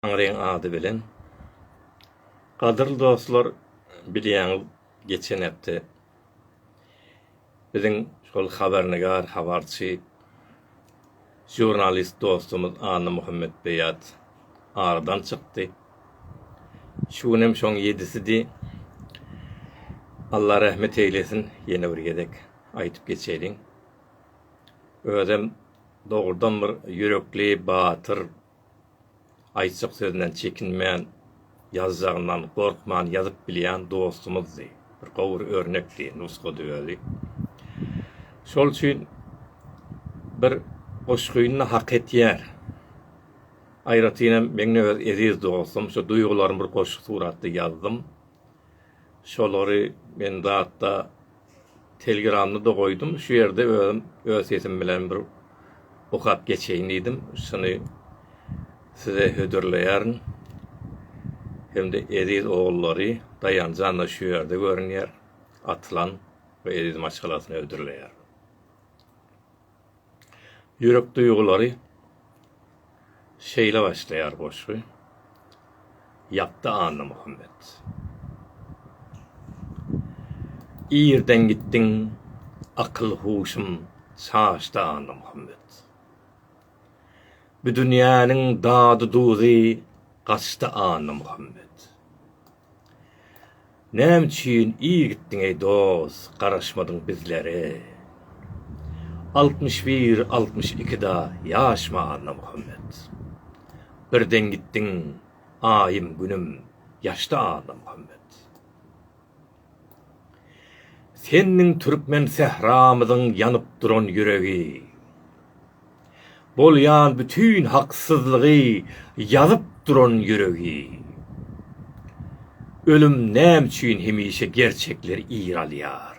Taňryň ady bilen. Gadyrly dostlar, bilýäňiz, geçen hepde biziň şol habarnigar, habarçy, žurnalist dostumyz Annamuhammet Beýat aradan çykdy. Şu gün hem şoň ýedisidi. Allah rahmet eýlesin, ýene bir gezek aýdyp geçeýin. Özem dogrudan bir ýürekli, batyr, Aýtjak sözünden çekinmän, ýazjagyndan gorkman ýazyp bilýän dostumyzdy. Bir gowy örnekdi, nusgady özi. Şol üçin bir goşgyny-da hak etýär. Aýratynam meňňe öz eziz dostum, şu duýgularymy bir goşgy suratda ýazdym. şolary men zatda telegramda da goýdum şu ýerde özüm öz sesim bilen bir okap geçeýin diýdim şuny size hödürleýärin hem-de eziz ogullary Daýanjan-da şu ýerde görünýär Atylan we Eziz maşgalasyna hödürleýär. Ýürek duýgulary Şeýle başlaýar goşgy, Ýakda Annamuhammet. Irden gitdiň, akyl-huşum çaşdy Annamuhammet. Bu dünýäniň dady-duzy gaçdy Annamuhammet. Näme üçin ir gitdiň eý dos garaşmadyň bizlere Altmyş bir altmyş ikide ýaşma Annamuhammet Birden gitdiň aýym günüm ýaşdy Annamuhammet Sendiň türkmen sähramyzyň ýanyp duran ýüregi. Bolýan bütin haksyzlygy ýazyp duran ýüregi. Ölüm näme üçin hemişe gerçekleri ir alýar?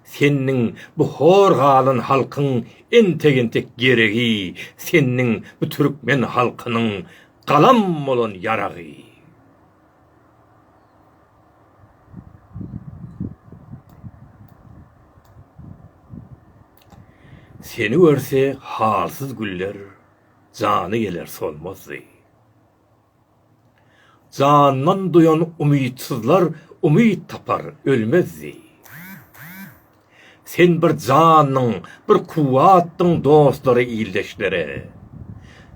Senniň bu hor galan halkyň entek-entek geregi, senniň bu türkmen halkynyň galam bolan ýaragy. Seni görse halsyz güller jany geler solmazdy. Jandan duýan umytsyzlar umyt tapar ölmezdi. Sen bir jandyň, bir kuwwatdyň dostlara, ildeşlere.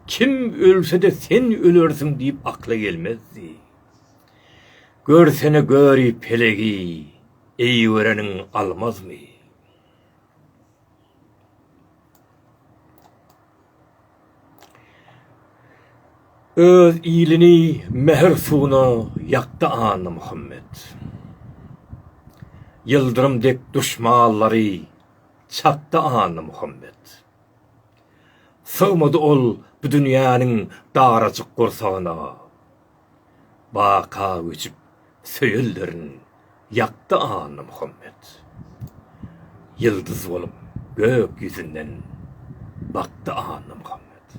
Kim ölse-de sen ölersiň diýip akla gelmezdi. Görsene göri pelegi, eýgereniň almazmy? Öz ilini mähir suwuna ýakdy Annamuhammet. Ýyldyrym dek duşmanlary çakdy Annamuhammet. Sygmady ol bu dünýäniň darajyk gursagyna. Baka göçüp söýelderin ýakdy Annamuhammet. Ýyldyz bolup gök ýüzünden bakdy Annamuhammet.